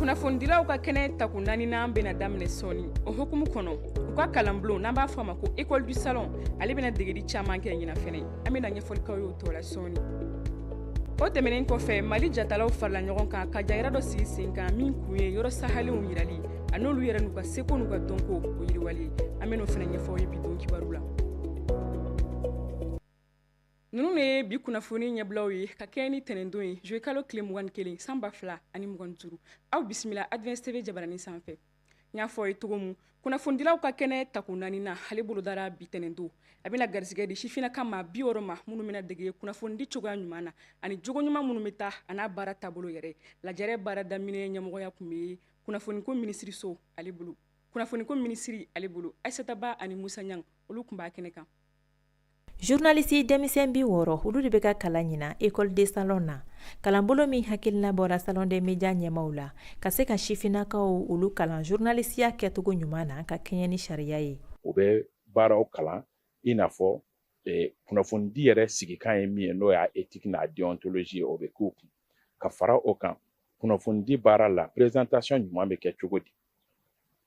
kunnafonidilaw ka kɛnɛ tako naaninan bɛna daminɛ sɔɔni o hukumu kɔnɔ u ka kalanbulon n'an b'a fɔ a ma ko école du salon ale bɛna degeli caman kɛ ɲinan fɛnɛ an bɛna ɲɛfɔli k'aw y'o tɔ la sɔɔni o tɛmɛnen kɔfɛ mali jatalaw farila ɲɔgɔn kan ka jayira dɔ sigi sen kan min kun ye yɔrɔ sahalenw yirali a n'olu yɛrɛ n'u ka seko n'u ka dɔnko o yiriwali an bɛn'o fɛnɛ ɲɛfɔ aw ye bi don kibaru la Ninnu de ye bi kunnafoni ɲɛbilaw ye ka kɛɲɛ ni ntɛnɛndon ye juillet kalo tile mugan ni kelen san ba fila ani mugan ni duuru aw bisimila Advance TV jabaranin sanfɛ n y'a fɔ aw ye cogo min kunnafonidilaw ka kɛnɛ tako naaninan ale bolodara bi ntɛnɛndon a bɛna garisigɛ di sifinnaka maa bi wɔɔrɔ ma minnu bɛna dege kunnafonidi cogoya ɲuman na ani jogo ɲuman minnu bɛ taa a n'a baara taabolo yɛrɛ lajɛrɛ baara daminɛ ɲɛmɔgɔya tun bɛ kunnafoniko minisiriso ale bolo kunnafoniko minisiri ale bolo Ayisata Ba ani Musa Ɲangi olu tun b'a kɛnɛ kan journaliste denmisɛn bi wɔɔrɔ olu de bɛ ka kalan ɲinan école de salon na kalanbolo min hakilina bɔra salon des médias ɲɛmaw la ka se ka sifinnakaw olu kalan journalistiya kɛcogo ɲuman na ka kɛɲɛ ni sariya ye u bɛ baaraw kalan i n'a fɔ eh, kunnafonidi yɛrɛ sigikan ye min ye n'o y'a éthique n'a déontologie o bɛ k'u kun ka fara o kan kunnafonidi baara la présentation ɲuman bɛ kɛ cogo di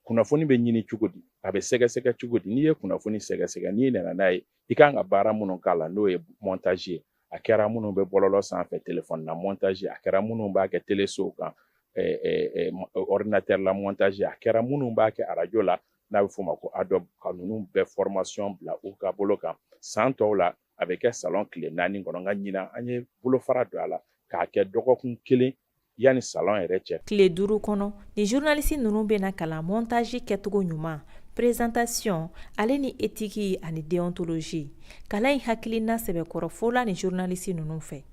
kunnafoni bɛ ɲini cogo di a bɛ sɛgɛsɛgɛ cogo di n'i ye kunnafoni sɛgɛsɛgɛ n'i nana n'a ye i kan ka baara minnu k'a la n'o ye montage ye a kɛra minnu bɛ bɔlɔlɔ sanfɛ telefɔni na montage a kɛra minnu b'a kɛ telesow kan ordinateur la montage a kɛra minnu b'a kɛ arajo la n'a bɛ f'o ma ko adobe ka ninnu bɛɛ formation bila u ka bolo kan san tɔw la a bɛ kɛ salon tile naani kɔnɔ nka ɲinan an ye bolofara don a la k'a kɛ dɔgɔkun kelen yanni salon yɛrɛ cɛ tile duuru kɔnɔ ni zurnalisi ninnu bɛna kalan montaji kɛcogo ɲuman presentation ale ni etiki ani deontologie kalan in hakilina sɛbɛkɔrɔ fola ni zurnalisi ninnu fɛ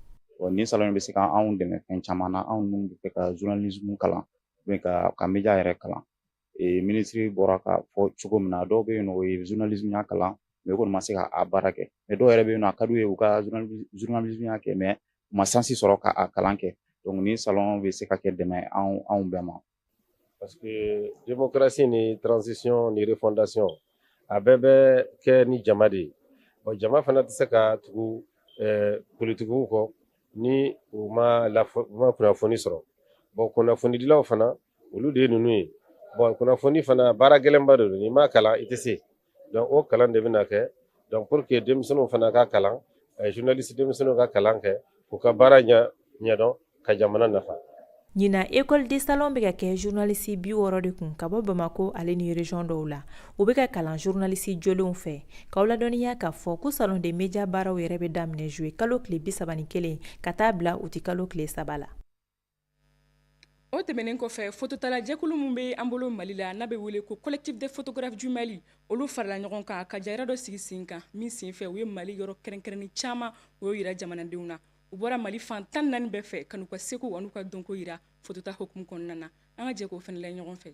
nin salon bɛ se ka anw dɛmɛ fɛn caman na anw minnu b'a fɛ ka zurnalismu kalan ou bien ka ka media yɛrɛ kalan minisiri bɔra k'a fɔ cogo min na dɔw bɛ yen nɔ u ye zurnalismuya kalan mais u kɔni ma se ka a baara kɛ mais dɔw yɛrɛ bɛ yen nɔ a ka d'u ye u ka zurnalismuya kɛ mais u ma sansi sɔrɔ ka a kalan kɛ donc ni salon bɛ se ka kɛ dɛmɛ anw anw bɛɛ ma parce que démocratie ni transition ni refondation a bɛɛ bɛ kɛ ni jama de ye bon jama fana tɛ se ka tugu eh, politikiw kɔ ni u ma lafɔ u ma kunnafoni sɔrɔ bon kunnafonidilaw fana olu de ye ninnu ye bon kunnafoni fana baara gɛlɛnba de don n'i ma kalan i tɛ se donc o kalan de bɛna kɛ donc pour que denmisɛnninw fana ka kalan eh, journaliste denmisɛnninw ka kalan kɛ k'u ka baara ɲɛ ɲɛdɔn ka jamana nafa ɲinan école de salon bɛ ka kɛ journaliste bi wɔɔrɔ de kun ka bɔ bamako ale ni région dɔw la u bɛ ka kalan journaliste jolenw fɛ k'aw ladɔnniya k'a fɔ ko salon des médias baaraw yɛrɛ bɛ daminɛ juillet kalo tile bisaba ni kelen ka taa bila uti kalo tile saba la o tɛmɛnen kɔfɛ fototalajɛkulu min bɛ an bolo mali la n'a bɛ wele ko collectif des photographes du Mali olu farala ɲɔgɔn kan ka jayira dɔ sigi sen kan min senfɛ u ye mali yɔrɔ kɛrɛnkɛrɛnnen caman u y'o yira jamanadenw na u bɔra mali fan tan ni naani bɛɛ fɛ ka n'u ka seko an'u ka dɔnko yira fotota hukumu kɔnɔna na an ka jɛ k'o fɛnɛ layɛ ɲɔgɔn fɛ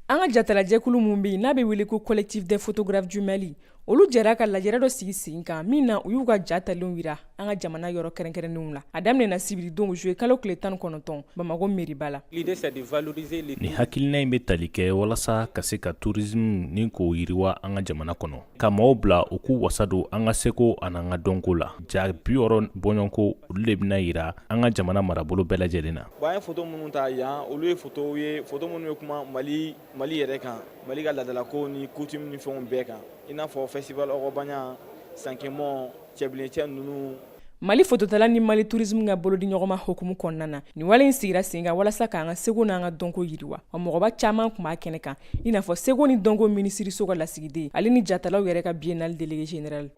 An ka jatalajɛkulu min bɛ yen n'a bɛ wele ko collectif des photographes du Mali olu jɛra ka lajɛrɛ dɔ sigi sen kan min na u y'u ka ja talenw yira an ka jamana yɔrɔ kɛrɛnkɛrɛnnenw la a daminɛna sibiridon juillet kalo tile tan ni kɔnɔntɔn bamako meriba la nin hakilina in bɛ tali kɛ walasa ka se ka tourisme ni k'o yiriwa an ka jamana kɔnɔ ka maaw bila u k'u wasa don an ka seko an'an ka dɔnko la ja bi wɔɔrɔ bɔɲɔgɔnko olu le bɛna yira an ka jamana marabolo bɛɛ lajɛlen na bon an ye foto minnu ta yan olu ye fotow ye foto minnu bɛ kuma mali mali yɛrɛ kan mali ka laadalakow ni coutume ni fɛnw bɛɛ kan i n'a fɔ festival ogobagna sankemɔ cɛbilencɛ ninnu mali fototala ni mali turismu ka bolodiɲɔgɔnma hukumu kɔnɔna na nin wale in sigira sen kan walasa k'an ka seko n'an ka dɔnko yiriwa wa mɔgɔba caman kun b'a kɛnɛ kan i n'a fɔ seko ni dɔnko minisiriso ka lasigiden ale ni jatalaw yɛrɛ ka biennale délégué général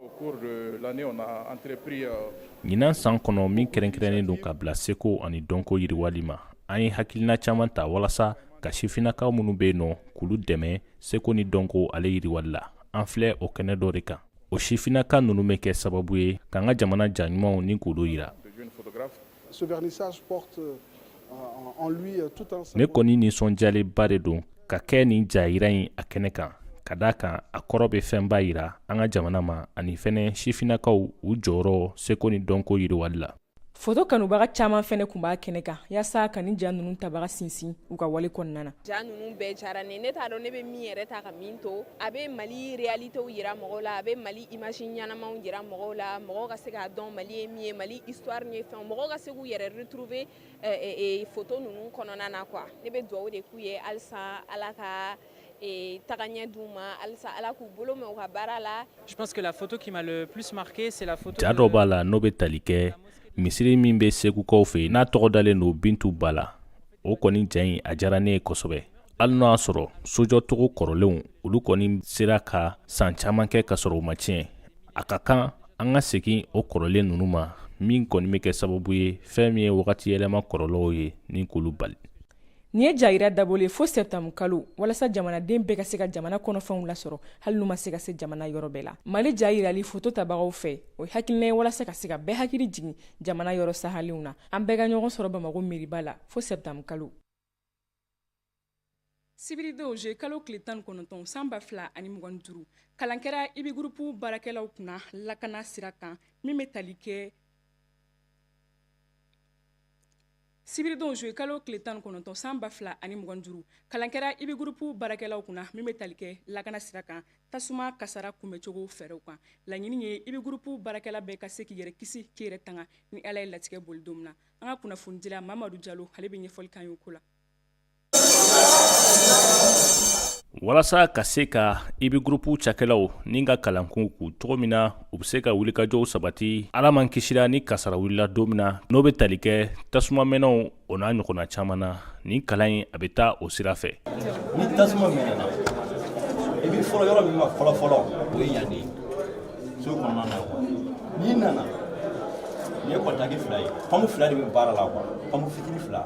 ɲinan san kɔnɔ min kɛrɛnkɛrɛnnen don ka bila seko ani dɔnko yiriwali ma an ye hakilina caman ta walasa ka sifinnakaw minnu bɛ yen nɔ k'olu dɛmɛ seko ni dɔnko ale yiriwali la an filɛ o kɛnɛ dɔ de kan o sifinnaka ninnu bɛ kɛ sababu ye k'an ka jamana ja ɲumanw ni k'olu yira ne kɔni nisɔndiyalenba de don ka kɛ nin jayira in a kɛnɛ kan ka d'a kan a kɔrɔ bɛ fɛnba yira an ka jamana ma ani fɛnɛ sifinnakaw u jɔyɔrɔ seko ni dɔnko yiriwali la foto kanubaga caman fɛnɛ kun b'a kɛnɛ kan yasa ka nin ja nunu tabaga sinsin u ka wale kɔnɔna na ja nunu bɛɛ diyara n ye ne t'a dɔn ne bɛ min yɛrɛ ta ka min to a bɛ mali réalitéw yira mɔgɔw la a bɛ mali image ɲɛnamaw yira mɔgɔw la mɔgɔw ka se k'a dɔn mali ye min ye mali histoire ni fɛnw mɔgɔw ka se k'u yɛrɛ retrouver foto nunu kɔnɔna na quoi ne bɛ dugawu de k'u ye halisa ala ka tagaɲɛ d'u ma halisa ala k'u bolo mɛn u ka baara la je pense que la photo qui m'a le plus marqué c'est la photo ja dɔ b'a la n'o bɛ tali kɛ misiri min bɛ segukaw fɛ n'a tɔgɔ dalen don bintu ba la o kɔni ja in a diyara ne ye kosɛbɛ hali n'o y'a sɔrɔ sojɔcogo kɔrɔlenw olu kɔni sera ka san caman kɛ ka sɔrɔ u ma tiɲɛ a ka kan an ka segin o kɔrɔlen ninnu ma min kɔni bɛ kɛ sababu ye fɛn min ye wagati yɛlɛma kɔlɔlɔw ye ni k'olu bali nin ye jayira dabɔlen ye fo septembre kalo walasa jamanaden bɛɛ ka se ka jamana kɔnɔfɛnw lasɔrɔ hali n'u ma se ka se jamana yɔrɔ bɛɛ la mali ja yirali foto tabagaw fɛ o hakilina ye walasa ka se ka bɛɛ hakili jigin jamana yɔrɔ sahalenw na an bɛɛ ka ɲɔgɔn sɔrɔ bamako meriba la fo septembre kalo sibiridon juillet kalo tile tan kɔnɔntɔn san ba fila ani mugan duuru kalan kɛra ibi gurupu baarakɛlaw kunna lakana sira kan min bɛ tali kɛ sibiridon zuwe kalo tile tan kɔnɔntɔn san ba fila ani mugan duuru kalan kɛra ibi gurupu baarakɛlaw kunna min bɛ tali kɛ lakana sira kan tasuma kasara kunbɛncogo fɛɛrɛw kan laɲini ye ibi gurupu baarakɛla bɛɛ ka se k'i yɛrɛ kisi k'i yɛrɛ tanga ni ala ye latigɛ boli don min na an ka kunnafonidila mamadu jalo ale bɛ ɲɛfɔli kan y'o ko la walasa ka se ka ibi gurupu cakɛlaw ni ka kalan k'u kun cogo min na u bɛ se ka wulikajɔw sabati ala m'an kisira ni kasara wulila don min na n'o bɛ tali kɛ tasuma mɛnɛw o n'a ɲɔgɔnna caman na nin kalan in a bɛ taa o sira fɛ ni tasuma mɛnɛna i bɛ fɔlɔ yɔrɔ min ma fɔlɔfɔlɔ o ye yan de ye so kɔnɔna na quoi n'i nana nin ye kɔntaki fila ye pɔnpu fila de bɛ baara la quoi pɔnpu fitini fila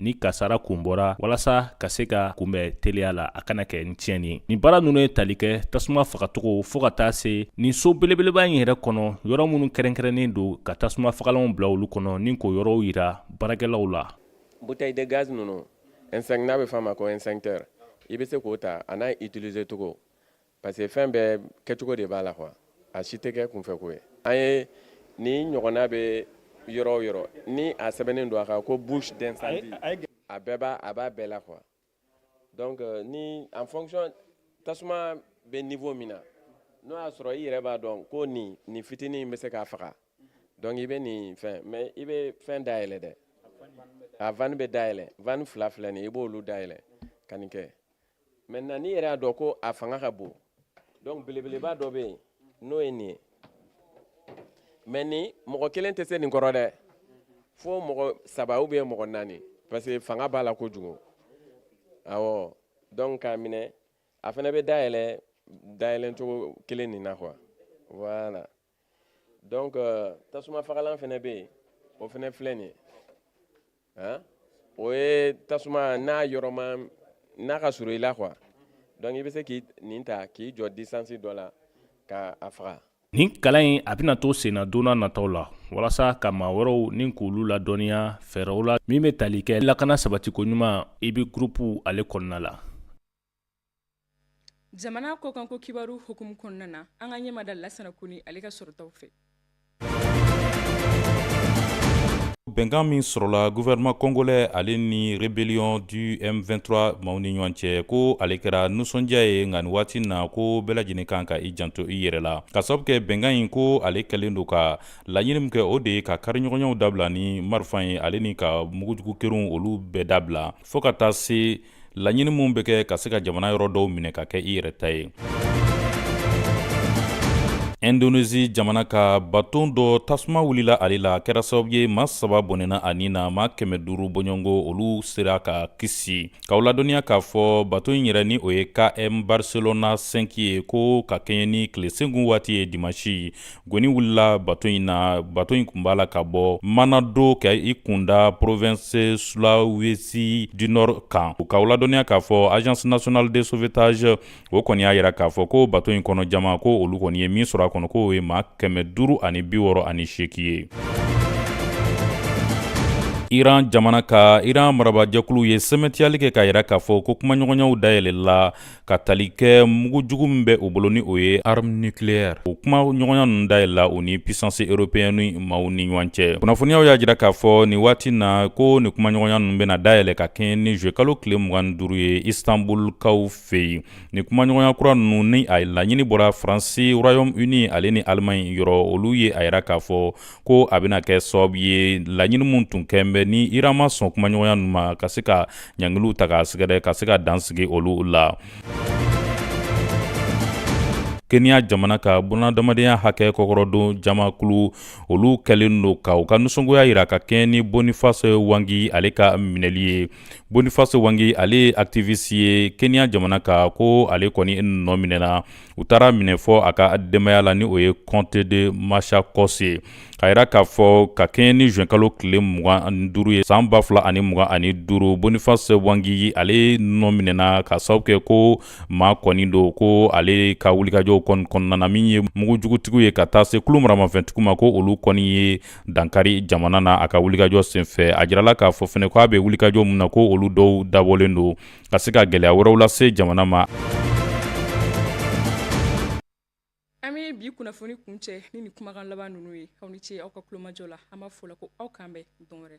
ni kasara kun bɔra walasa ka se ka kunbɛn teliya la a kana kɛ ni tiɲɛni ye nin baara ninnu ye tali kɛ tasuma fagacogo fɔɔ ka taa se nin so belebeleba in yɛrɛ kɔnɔ yɔrɔ minnu kɛrɛnkɛrɛnnen don ka tasuma fagalanw bila olu kɔnɔ ni k'o yɔrɔw yira baarakɛlaw la bouteille de gaz ninnu extinct n'a bɛ f'a ma ko extincteur i bɛ se k'o ta a n'a utiliser cogo parce que fɛn bɛɛ kɛcogo de b'a la quoi a si tɛ kɛ kunfɛ ko ye an ye nin ɲɔgɔnna bɛ yɔrɔ o yɔrɔ ni a sɛbɛnnen don a kan ko bouche d'incendie a bɛɛ b'a a b'a bɛɛ la quoi donc euh, ni en fonction tasuma bɛ niveau min na n'o y'a sɔrɔ i yɛrɛ b'a dɔn ko nin nin fitinin in bɛ se k'a faga donc i bɛ nin fɛn mais i bɛ fɛn dayɛlɛ dɛ a vanne bɛ dayɛlɛ vanne fila filɛ nin i b'olu dayɛlɛ ka nin kɛ maintenant n'i yɛrɛ y'a dɔn ko a fanga ka bon donc belebeleba dɔ bɛ yen n'o ye nin ye mais nin mɔgɔ kelen tɛ se nin kɔrɔ dɛ fo mɔgɔ saba ou bien mɔgɔ naani parce que fanga b'a la kojugu awɔ donc k'a minɛ a fana bɛ dayɛlɛ dayɛlɛcogo kelen nin na quoi voilà donc euh, tasuma fagalan fana bɛ yen o fana filɛ nin ye han o ye tasuma n'a yɔrɔ ma n'a ka surun i la quoi donc i bɛ se k'i nin ta k'i jɔ distance dɔ la ka a faga. nin kalan in a bɛna to senna don nataw la walasa ka maa wɛrɛw ni k'olu ladɔnniya fɛɛrɛw la min bɛ tali kɛ lakana sabatiko ɲuman ibi gurupu ale kɔnɔna la. jamana kɔkanko kibaru hukumu kɔnɔna na an ka ɲɛmada lasana kone ale ka sɔrɔtaw fɛ bɛnkan min sɔrɔla gouvernement congolais ale ni rébellion du m23 maaw ni ɲɔgɔn cɛ ko ale kɛra nusɔndiya ye nka nin waati na ko bɛɛ lajɛlen kan ka i janto i yɛrɛ la k'a sababu kɛ bɛnkan in ko ale kɛlen don ka laɲini min kɛ o de ye ka kariɲɔgɔnyaw dabila ni marifa ye ale ni ka mugujugu kɛrunw olu bɛɛ dabila fɔɔ ka taa se laɲini minnu bɛ kɛ ka se ka jamana yɔrɔ dɔw minɛ ka kɛ i yɛrɛ ta ye Indonesie jamana ka baton dɔ tasuma wulila ale la kɛra sababu ye ma saba bɔnɛna a ni na ma kɛmɛ duuru bɔɲɔgɔnko olu sera ka kisi k'aw ladɔnniya k'a fɔ baton in yɛrɛ ni o ye km barcelona 5 ye ko ka kɛɲɛ ni tilesenkun waati ye dimansi goni wulila bato in na bato in kun b'a la ka bɔ manado ka i kunda province sulawesi du nord kan k'aw ladɔnniya k'a fɔ agence nationale de sauvetage o kɔni y'a yira k'a fɔ ko bato in kɔnɔ jama ko olu kɔni ye min sɔrɔ a kɔnɔ k'o ye ma kɛmɛ duuru ani bi wɔɔrɔ ani seegin ye iran jamana ka iran marabajɛkulu ye sɛmɛntiyali kɛ k'a yira k'a fɔ ko kumaɲɔgɔnyaw dayɛlɛla ka tali kɛ mugujugu min bɛ u bolo ni o ye arme nucléaire o kumaɲɔgɔnya ninnu dayɛlɛla u ni puissance européenne maaw ni ɲɔgɔn cɛ kunnafoniyaw y'a jira k'a fɔ nin waati na ko nin kumaɲɔgɔnya ninnu bɛna dayɛlɛ ka kɛɲɛ ni juillet kalo tile mugan ni duuru ye istanbulkaw fɛ yen nin kumaɲɔgɔnya kura ninnu ni a laɲini bɔra faransi royaume uni ale ni allemagne yɔrɔ olu ye a yira k'a fɔ ko a bɛna kɛ sababu ye laɲini min tun kɛn bɛ ni iran ma sɔn kumaɲɔgɔnya ninnu ma ka se ka ɲangiliw ta k'a sɛgɛrɛ ka se ka dansigi olu la kenya jamana ka bunadamadenya hakɛ kɔkɔrɔdon jamakulu olu kɛlen don ka u ka nisɔngoya yira ka kɛɲɛ ni boniface mwangi ale ka minɛli ye boniface mwangi ale ye activiste ye kenya jamana ka ko ale kɔni nɔminɛna u taara minɛ fɔ a ka denbaya la ni o ye comté de machakos ye ka yira k'a fɔ ka kɛɲɛ ni juin kalo tile mugan ani duuru ye san ba fila ani mugan ani duuru boniface mwangi ale nɔminɛna k'a sababu kɛ ko maa kɔni don ko ale ka wulikajɔw kɔni kɔnɔna na min ye mugujugutigiw ye ka taa se kulu maramafɛntigiw ma ko olu kɔni ye dankari jamana na a ka wulikajɔ senfɛ a jirala k'a fɔ fɛnɛ ko a bɛ wulikajɔ min na ko olu dɔw dabɔlen don ka se ka gɛlɛya wɛrɛw lase jamana ma an bɛ bi kunnafoni kuncɛ ni nin kumakan laban ninnu ye aw ni ce aw ka kulomajɔ la an b'a fɔ la ko aw k'an bɛn don wɛrɛ